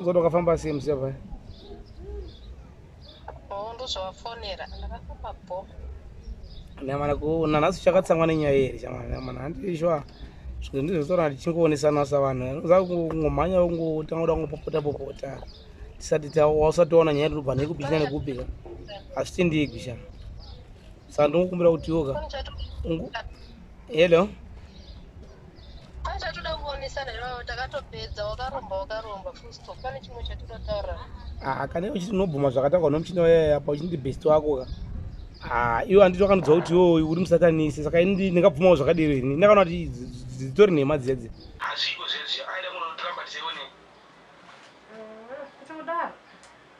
Uzoda ukafamba sei musiya paya? Oh, ndozvawafonera. Ndakafamba bho. Nyamana kuona nhasi uchakatsamwa nenyaya here chamwana nyamana handii shuwa zvinhu ndizvotora tichingoonesanwa savanhu unoziva kungomhanya ungotanga kuda kungopopota popota tisati tausati waona nyaya tirikubva nekupi china nekupi ka hazvitendiigwi sha saka ndingokumbira kuti yoka Ungu- hello pane chatoda kuonesana ivavo takatopedza wakaromba wakaromba fusto pane chimwe chatoda taura ah, kane uchiti unobvuma zvakataurwa nomuchini wayaya apa uchiti ndibest wako ka ah, iwe handiti wakanodza kuti yo uri musatanisi saka ini ndingabvumawo zvakadero ini ndakaona kuti dzitori nhema dzedze hazviko zvezvi aida kunotiramba tiseone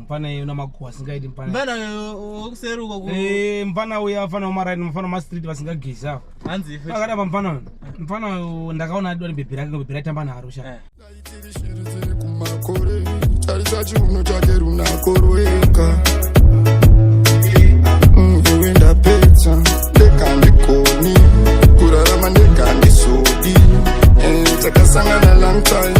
mpana yeyo namakuwa asingaiti mpana mpana wokuseri uko eh, mpana uya afana wamaraini mafana wamastreet vasingagezi avo hanzi akada pampana uyo mpana uyo ndakaona adi wani bhebhi rake bhebhi raitamba naro sha eh. tarisa chiuno chake runakorweka mm, iwe ndapedza ndekandikoni kurarama ndekandisodi eh, takasangana lang time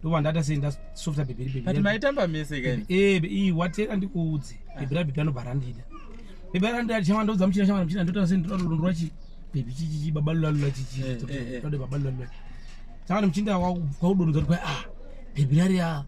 ndobva ndata sei ndasofta bhebhiribhebhiri maitamba mese kaii eh, ii watera ndikuudze ah. bhebhirabhebhi anobva randida bhebhirandida chama ndaudza muchina chama muchina ndotaura sei ndotaura kuti ndorwa chii bhebhi chichichi baba lulalula chichii eh, eh, eh. tode baba lulalula chama muchinda kwaudonudza kuti kwai ah bhebhirari ya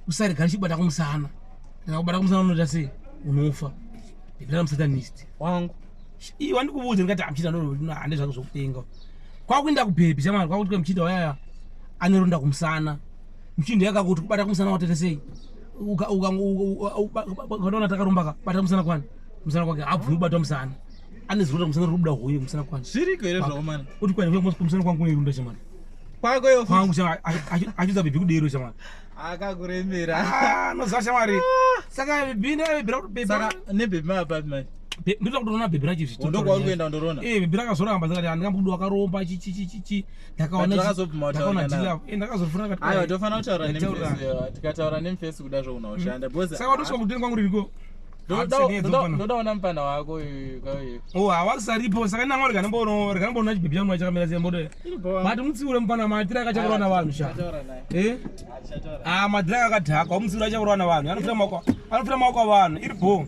usarega ndichibata kumusana ndakakubata kumusana unoita sei unofa bhebhirari musatanist wangu Ii wandikuudza ndikati amuchita ndoroti hande zvako zvokutenga. Kwakuenda kubhebhi chamwana kwakuti kwa muchita waya anoronda kumusana. Muchinda yakakuti kubata kumusana watete sei? Uka uka ukaona takaromba ka bata kumusana kwani? Kumusana kwake abvumi bata kumusana. Ane zuro kumusana rubuda huye kumusana kwani? Zviri kwere zvawo mwana. Uti kwani kumusana kwangu ne runda chamwana. Kwako yo. Kwangu chamwana achiza bhebhi kudero chamwana. akakuremera ah, noziva shamwari ah. saka bhini aibhira kuti saka nebhebhi maapati mai ndoda kutoona bhebhi racho zvitondokwauri kuenda ndorona e eh, bhebhi rakazoramba zikati handikambudu wakaromba chichichichichi ndakaonandakazofunaaaiwa eh, tofanira kutaura nemfesi tikataura nemfesi kuda zvounaushanda mm. saka watosvika kuteni kwangu ririko ndoda ona mupanda wako oh, hawakusaripo saka nanga rikanamboona chibhebhi changu chakamira sei mboto mati mutsiure mupanda matira akachakurwa na vanhu sha eh? ah, matira akadhakwa mutsiure achakurwa na vanhu anofira maoko avanhu iri bho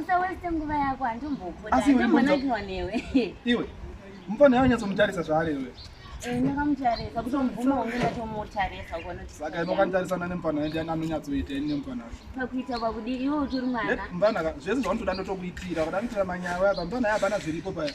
usaweste nguva yako handimbokudaimbonaiwa newe iwe mufana yawo nyatsomutarisa zvaari iwe eh, ndakamutarisa kutomubvuma hunge ndatomutarisa saka inokanitarisana nemufana ende anonyatsoita ini nemufana pakuita pakudi iwe utori mwana mufana zvese zvaunotoda ndotokuitira kuda kuitira manyawe apa mufana yaapana zviripo paya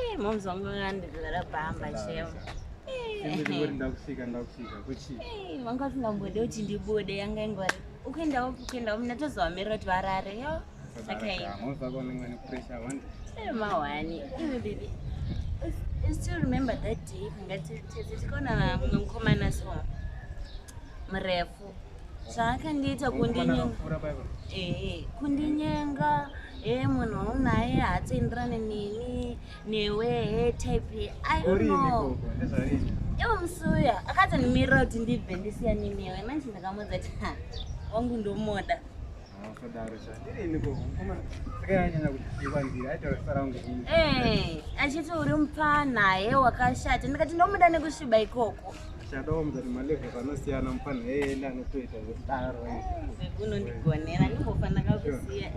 Eh, moms vangu vangandigara pamba cheo vanga vasingambode kuti ndibude yanga ingwari ukuendawo kuendawo mna tozovamirira kuti varare yo mahwani iwe bibi i still remember that day ngatetese tikaona mumwe mukomana so murefu zvaakandiita eh, kundinyenga e eh, munhu waunaye haatsenderane neni newe he eh, type iono ivo musi uya akatonimirira kuti ndibve ndisiyane newe manje ndakamuudza ti wangu ndomoda Eh, achiti uri mupfana he wakashata ndikati ndomuda nekusviba ikoko shadawo mzati maleve vanosiyana mupfana eenda anotoita zvekudaro unondigonera ndimbofanira kakusiya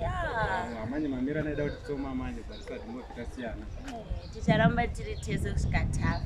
amanye mamira naida kuti tsoma amanye bharisati mofikasiyana eh, ticharamba tiri tese kusvika tafa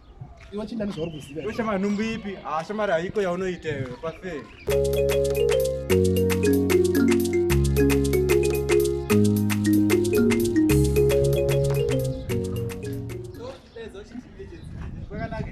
Iwe chindani zvauri kuziva. Iwe shamari nhumbu ipi? Ah shamari haiko yaunoita iwe pafe. Pakanaka.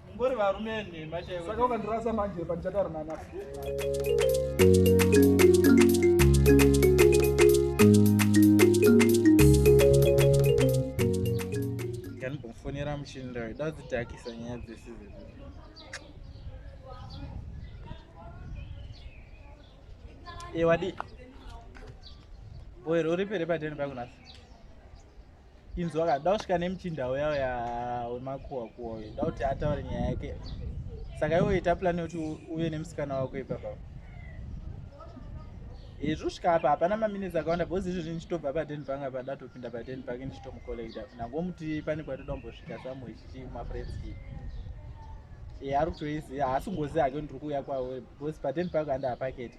Ngori varume enhema chaivo. Saka ukandirasa manje pandichataura nana. Ndinofonera muchini ndayo dadzitakisa nyaya dzese dzese. Ewadi. Eh, Boy, uri pere padeni pakunasa. inzwa ka dausvika nemuchinda uya uya wemakuwa kuwa uyo da kuti ataure nyaya yake saka iwe ita plani yekuti uve nemusikana wako ipapa hezvo svika apa hapana maminitsi akawanda bhozi izvozvi ndichitobva paden bank apa datopinda paden bank ndichitomucollekta nangomuti pane kwatoda kumbosvika samwe chichi mafriends ii e ari kutoiziva haasi ngozi hake ndiri kuuya kwavo bhozi paden bank andihapaketi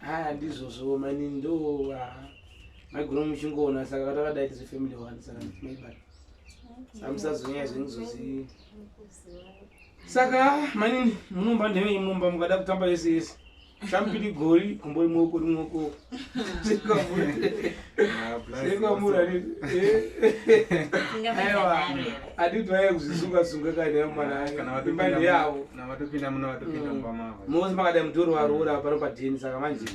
haa ndizvozvo mani ndo maigona muchingoona saka vatakadai tizi family one saka maibata samusazonyaya zvenizozii saka mani munomba ndeve imomba mukada kutamba yese yese shampiri gori kumbo imoko rimoko mosi makadai mudhoro waroora pano padheni saka manje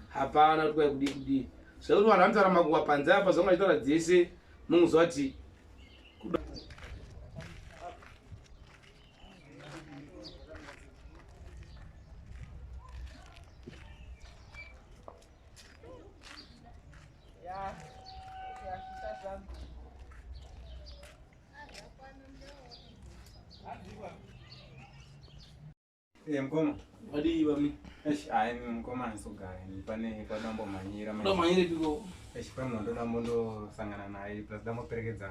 hapana kuti kwai kudii kudii zvekuti vanhu vanotaura makuwa panze apa zvanga vachitaura dzese munhu zovati Eh, mkoma. Hadi wami. Esh, ayi mkoma nsogara. Nipane kwa dambo manyira. Kwa manyira piko. Esh, kwa mwondo dambo ndo sangana na ayi. Plus dambo perekedza.